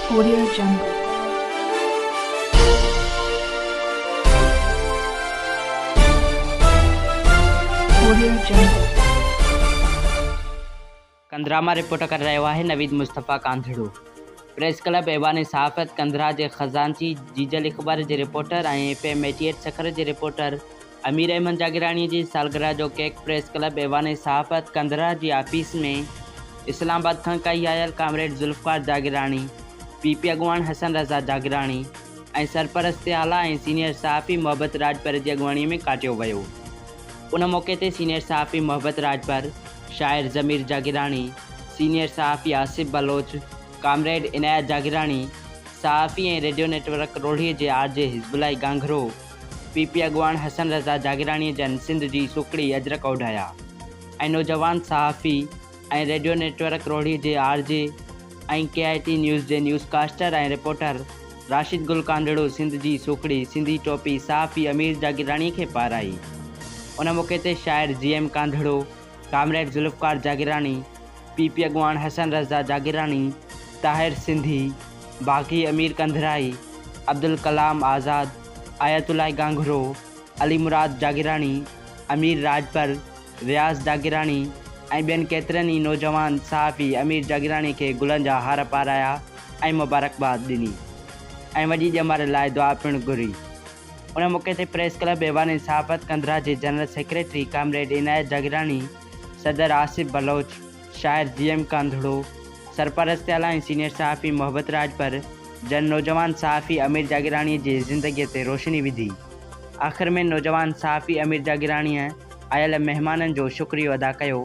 Korea جنگ، Korea جنگ. ڪنڌرا مان رپورٽ ڪري رهيو آهي نويد مصطفيٰ ڪانڌڙو. پريس ڪلب ايوان صحافت ڪنڌرا جي خزانچي جيجل اخبار جي reporter ۽ F M eighty eight Sukkur جي رپورٽر امير احمد جاگيراڻي جي سالگرهه جو ڪيڪ پريس ڪلب ايوان صحافت ڪنڌرا جي آفيس ۾ اسلام آباد کان ڪهي آيل comrade Zulfiqar Jagirani, P P اڳواڻ حسن رضا جاگيراڻي ۽ سرپرست اعليٰ ۽ سينيئر صحافي محبت راڄپر جي اڳواڻي ۾ ڪاٽيو ويو. ان موقعي تي سينيئر صحافي محبت راڄپر، شاعر ضمير جاگيراڻي، سينيئر صحافي آصف بلوچ، ڪامريڊ عنايت جاگيراڻي، صحافي ۽ ريڊيو نيٽ ورڪ روهڙي جي R J Hizbullah Ganghro, P P اڳواڻ حسن رضا جاگيراڻيء جن سنڌ جي سوکڙي اجرڪ اوڍايا ۽ نوجوان صحافي ۽ ريڊيو نيٽورڪ روهڙي جي R J ۽ K I T news جي newscaster ۽ reporter Rashid Gul Kandharo Sindh جي سوکڙي سنڌي ٽوپي صحافي امير جاگيراڻيء کي پارائي. ان موقعي تي شاعر G M Kandharo, comrade Zulfiqar Jagirani, P P اڳواڻ حسن رضا جاگيراڻي، طاهر سنڌي، باغي امير ڪنڌرائي، عبدالڪلام آزاد، آيت الله گانگهرو، علي مراد جاگيراڻي، امير راڄپر، وياس جاگيراڻي ۽ ٻين ڪيترن ئي نوجوان صحافي امير جاگيراڻي کي گلن جا هار پارايا ۽ مبارڪباد ڏني ۽ وڏي ڄمار لاء دعا پڻ گهري. ان موقعي تي پريس ڪلب ايوان انصافت ڪنڌرا جي general secretary comrade Inayat Jagirani, صدر آصف بلوچ، شاعر جي ايم ڪانڌڙو، سرپرست اعليٰ ۽ سينيئر صحافي محبت راڄپر جن نوجوان صحافي امير جاگيراڻي جي زندگي تي روشني وڌي. آخر ۾ نوجوان صحافي امير جاگيراڻي آيل مهمانن جو شڪريو ادا ڪيو.